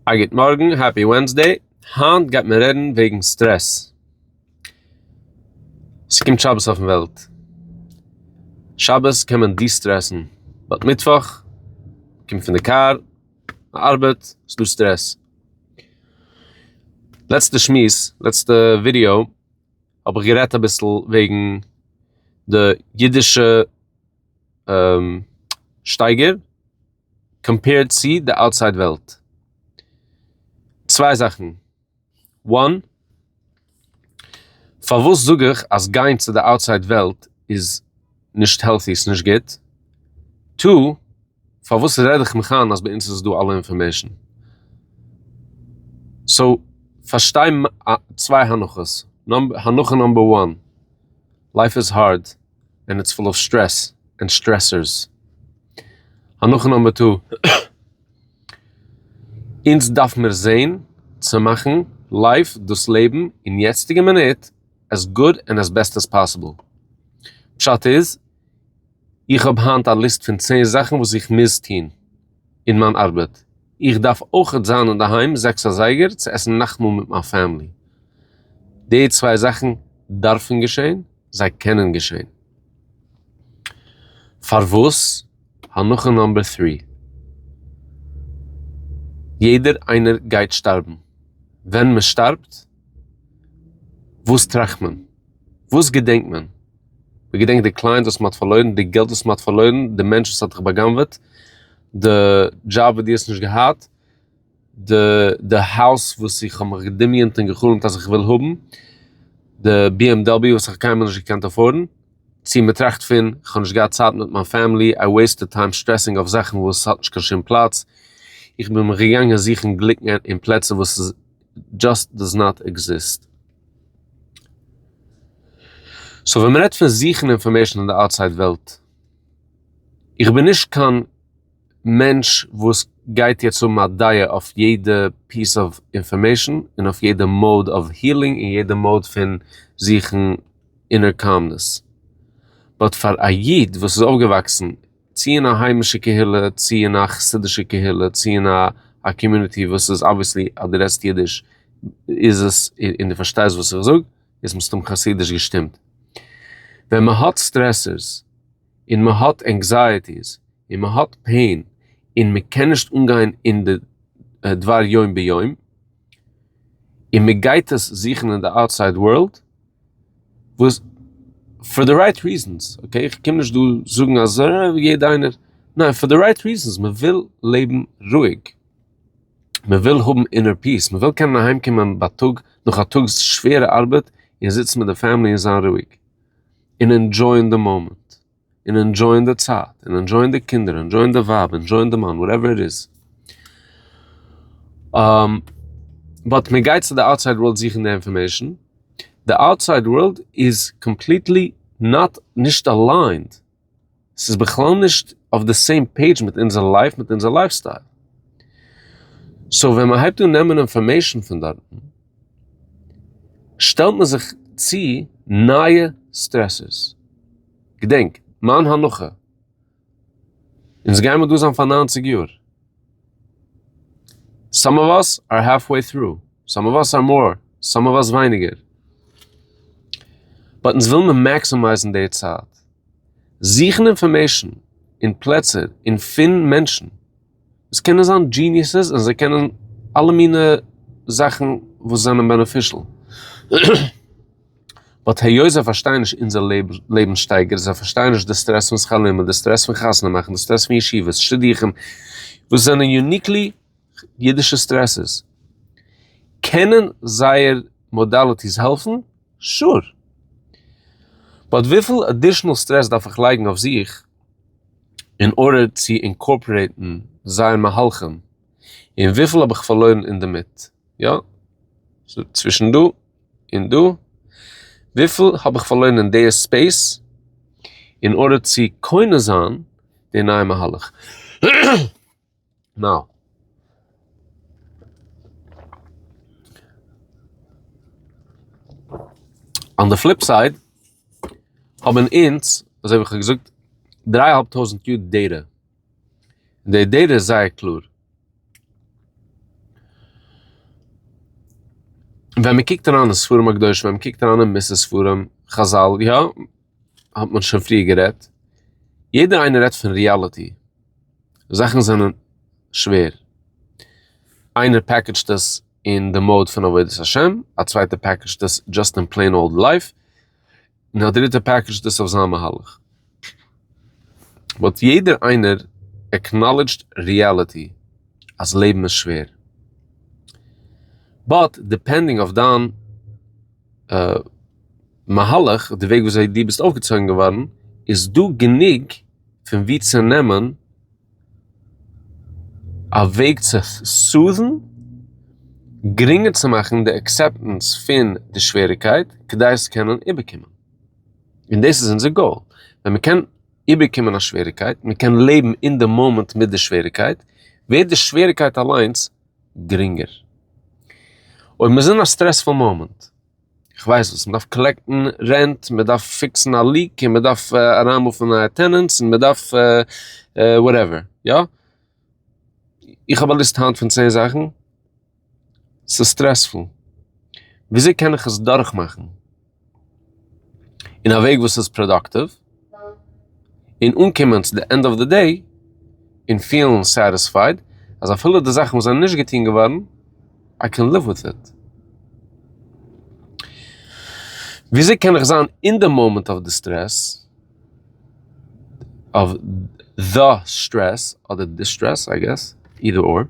א גוט מארגן, העפי ווענסדעי, היינט גייט מען רעדן וועגן סטרעס. ס'קומט שבת אויפן וועלט, שבת קען מען דיסטרעסן, באט מיטוואך, קומט פון די קאר, די ארבעט, ס'דא סטרעס. לעצטע שמועס, לעצטע ווידיאו, האב איך גערעדט אביסל וועגן די אידישע שטייגער. קאמפעירד צי די אוטסייד וועלט. צוויי זאכן, וואן, פארוואס זאג איך אז גיין צו די אוטסייד וועלט איז נישט העלטי, ס'נישט גוט, טו, פארוואס רעד איך מיך איין אז ביי אונז איז דא אלע אינפארמעישן. סאו, פארשטיי צוויי הנחות, הנחה נאמבער וואן, לייף איז הארד. און איטס פול אוו סטרעס און סטרעסערס. הנחה נומבער טו, אונז דארף מיר זעהן צו מאכן לייף, דאס לעבן, אין יעצטיגע מינוט עס גוד און עס בעסט עס פאסיבל. פשט איז, איך האב היינט א ליסט פון צען זאכן וואס איך מוז טון. אין מיין ארבעט, איך דארף אויכעט זיין אינדערהיים זעקס אזייגער צו עסן נאכטמאל מיט מיין פעמילי, די צוויי זאכן דארפן געשען, זיי קענען געשען. פארוואס? הנחה נאמבער טרי, יעדער איינער גייט שטארבן, ווען מען שטארבט, וואס טראכט מען? וואס געדענקט מען? מען געדענקט די קלייענט וואס מען האט פארלוירן, די געלט וואס מען האט פארלוירן, די מענטש וואס האט דיך בא'גנב'עט, די דזשאב וואס דו האסט נישט געהאט, די די הויז וואס איך האב מיך געדמיונ'ט און גע'חלומ'ט אז איך וויל האבן, די ביעמדאביו וואס איך האב קיינמאל נישט געקענט עפארדן, צו מען טראכט פון, איך האב נישט געהאט צייט מיט מיין פעמילי, איי וועיסטעד טיים סטרעסינג אויף זאכן וואס האט נישט קיין שום פלאץ, איך בין מיך געגאנגען זוכן גליקן אין פלעצער וואס איז. דזשאסט דאז נאט עקזיסט. סאו ווען מ'רעדט פון זוכן אינפארמעישן אין די אוטסייד וועלט, איך בין נישט קיין מענטש וואס גייט יעצט האבן א דעה אויף יעדע פיס אוו אינפארמעישן און אויף יעדע מאד אוו הילינג און יעדע מאד פון זוכן אינער קאלמנעס. באט פאר א איד וואס איז אויפגעוואקסן. צי אין א היימישע קהילה צי אין א חסידישע קהילה צי אין א א קאמיוניטי וואס איז אבוויעסלי אז דו רעדסט אידיש איז עס און דו פארשטייסט וואס איך זאג איז מסתם חסידיש געשטימט. ווען מען האט סטרעסערס און מען האט ענקזייעטיס און מען האט פעין און מען קען נישט אנגיין אין די דבר יום ביום', און מען גייט עס זוכן אין די אוטסייד ווארלד וואס פאר די רייט ריזענס אקעי איך קום נישט דא זאגן אז יעדע איינער ניין פאר די רייט ריזענס מען וויל לעבן רואיג מען וויל האבן אינער פיס מען וויל קענען אהיים קומען בייטאג נאך א טאג שווערע ארבעט און זיצן מיט די פעמילי און זיין רואיג און ענדשויען די מאמענט. און ענדזשויען די צייט, און ענדזשויען די קינדער, ענדזשויען די ווייב, ענדזשויען די מאן, וואטעווער איט איז. באט מען גייט צו די אוטסייד ווארלד זוכן די אינפארמעישן, די אוטסייד ווארלד איז קאמפליטלי נאט נישט אליינד, ס'איז בכלל נישט אויף די סעים פעידזש מיט אונזער לייף, מיט אונזער לייף סטייל. סאו ווען מען הייבט אן נעמען אינפארמעישן פון דארטן, שטעלט מען זיך צו נייע סטרעסערס. געדענק, מיין הנחה, אונז גיימער דא זיין פאר נײַנציק יאר. סאם אוו אס אר האלף וועי טרו, סאם אוו אס אר מאר, סאם אוו אס ווייניגער. באט אונז ווילמער מעקסימייזן די צייט. זוכן אינפארמעישן אין פלעצער אין פין מענטשן. עס קענען זיין דזשיניעסעס און זיי קענען אלע מינע זאכן וואס זענען בענעפישל. באט היות זיי פארשטייען נישט אונזער לעבנסשטייגער, זיי פארשטייען נישט די סטרעס פון שכר לימוד, די סטרעס פון חתונה מאכן, די סטרעס פון ישיבות, שדוכים, וואס זענען יוניקלי אידישע סטרעסעס. קענען זייער מאדאליטיס העלפן? שור! באט וויפיל עדישענעל סטרעס דארף איך לייגן אויף זיך? אין ארדער צו אינקארפערעיטן זייער מהלכים, און וויפיל האב איך פארלוירן אינדערמיט? יא, ס'איז צווישן דא און דא, וויפיל האב איך פארלוירן אין די ספעיס, אין ארדער צו קונה זיין די נייע מהלך? נאו. אן די פליפ סייד האבן אונז, אזוי ווי כ'האב געזאגט, דריי אהאלב טויזנט יאר דעטע. און די דעטע איז זייער קלאר. ווען מ'קוקט אריין אין ספרים הקדושים, ווען מ'קוקט אריין אין מס' ספרים, חזל, יא, האט מען שוין פריער גערעדט, יעדער איינער רעדט פון ריאליטי. זאכן זענען שווער, איינער פעקעדזשט עס אין די מאוד פון עבודת השם, א צווייטער פעקעדזשט עס דזשאסט אין פלעין אולד לייף, און א דריטער פעקעדזשט עס אויף זיין מהלך. באט יעדער איינער עקנאלעדזשד ריעליטי אז לעבן איז שווער. באט דיפענדינג אויף דיין מהלך, די וועג וויאזוי דו ביסט אויפגעצויגן געווארן, איז דא גענוג, פון ווי צו נעמען א וועג צו סאוט'ן גרינגער צו מאכן די עקסעפטענס פון די שוועריקייט כדי עס קענען איבערקומען. און דאס איז אונזער גאול. ווען מען קען איבערקומען א שוועריקייט, מען קען לעבן אין די מאמענט מיט די שוועריקייט, ווערט די שוועריקייט אליינס גרינגער. אויב מ'איז אין א סטרעספול מאמענט. כ'ווייס וואס, מ'דארף קאלעקטן רענט, מ'דארף פיקסן א ליעק, און מ'דארף אריינמאפן נייע טענענטס, און מ'דארף וואטעווער, יא? איך האב א ליסט היינט פון צען זאכן, ס'איז סטרעספול, וויאזוי קען איך עס דורכמאכן אין א וועג וואס איז פראדאקטיוו? און אנקומען צו די ענד אוו די דעי און פילן סעטיספייד אז אפילו די זאכן וואס זענען נישט געטון געווארן איי קען ליוו וויט איט. וויאזוי קען איך זיין אין די מאמענט אוו די סטרעס, אוו די סטרעס אדער דיסטרעס איי געס, אידער אר,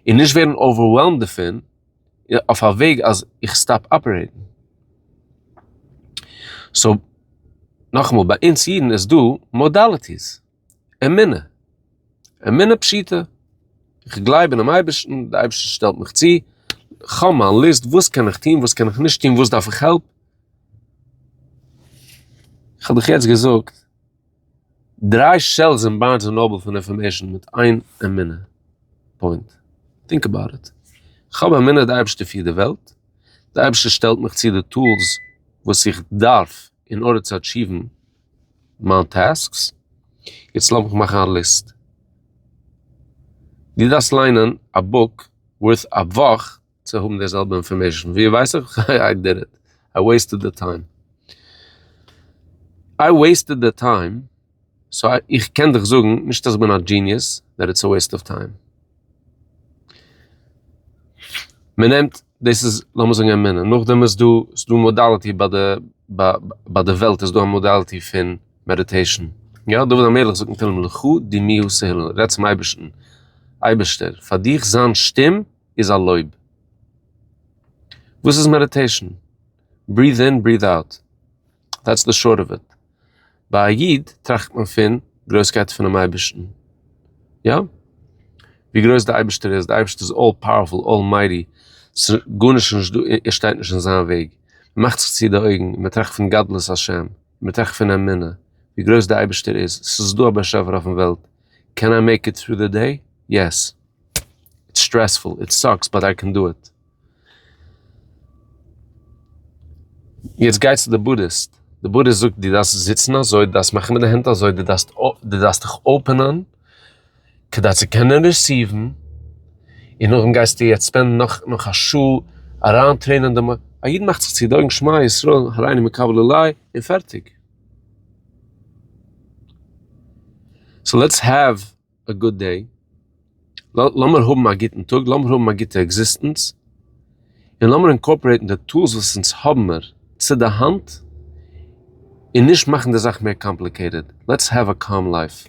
און נישט ווערן אווערוועלמד דערפון? אויף א וועג אז איך סטאפ אפערעיטן. סאו, נאכאמאל, ביי אונז אידן איז דא מאדאליטיס. אמונה. אמונה פשוטה. איך גלייב אינעם אייבערשטן, דער אייבערשטער שטעלט מיך צו. כ'האב מיין ליסט וואס קען איך טון, וואס קען איך נישט טון, וואס דארף איך העלפ. כ'האב דיך יעצט געזאגט. דריי שעלפס אין בארנס און נאבל פון אינפארמעישן מיט איין אמונה פוינט. טינק אבאוט איט. כ'האב אמונה די אייבערשטער פירט די וועלט, די אייבערשטער שטעלט מיך צו די טולס וואס איך דארף אין ארדער צו אטשיוון מיין טעסקס. יעצט לאמיך מאכן א ליסט. דו דארפסט ליינען א בוק ווארט א וואך. צו האבן די זעלבע אינפארמעישן ווי ווייס איך איי דיד איט איי וועיסטעד די טיים איי וועיסטעד די טיים סאו איך קען דיך זאגן נישט אז איך בין א דזשיניעס דעט איטס א וועיסט אוו טיים מען נעמט דאס איז לאמיר זאגן אמונה נאכדעם איז דא ס'איז דא מאדאליטי ביי די ביי די וועלט איז דא א מאדאליטי פון מעדיטעישן יא דוד המלך זאגט אין תהלים לכו דמי' השכל רעדט צום אייבערשטן אייבערשטער פאר דיך זיין שטים איז א לויב. וואס איז מעדיטעישן? בריעט אין בריעט אוט. דעטס די שארט אוו איט. ביי א איד טראכט מען פון גרויסקייט פונעם אייבערשטן. יא. ווי גרויס די אייבערשטער איז. די אייבערשטער איז אלל פאוערפול, אלמייטי. ס'גארנישט נישט דא, ער שטייט נישט אין זיין וועג. מ'מאכט זיך צו די אויגן און מ'טראכט פון גדלות השם. מ'טראכט פון אמונה. ווי גרויס די אייבערשטער איז. ס'איז דא א באשעפער אויפן וועלט. קען איי מעיק איט טרו די דעי? יעס. איטס סטרעספול, איט סאקס, באט איי קען דא איט. יעצט גיי צו די בודהיסט, די בודהיסט זאגט דו דארפסט זיצן אזוי, דו דארפסט מאכן מיט די הענט אזוי, דו דארפסט דו דארפסט דיך אפענען כדי צו קענען ריסיוון, און נאכדעם גייסטו יעצט ספענדן נאך נאך א שעה אריין טרעינען דעם, א איד מאכט זיך צו די אויגן שמע ישראל הריני מקבל אלי און פערטיג. סאו לעטס העוו א גוד דעי, לאמיר האבן א גוטן טאג, לאמיר האבן א גוטע עקזיסטענץ, און לאמיר אינקארפארעיטן די טולס וואס אונז האבמער צו די האנט, און נישט מאכן די זאך מער קאמפליקעיטעד, לעטס העוו א קאם לייף.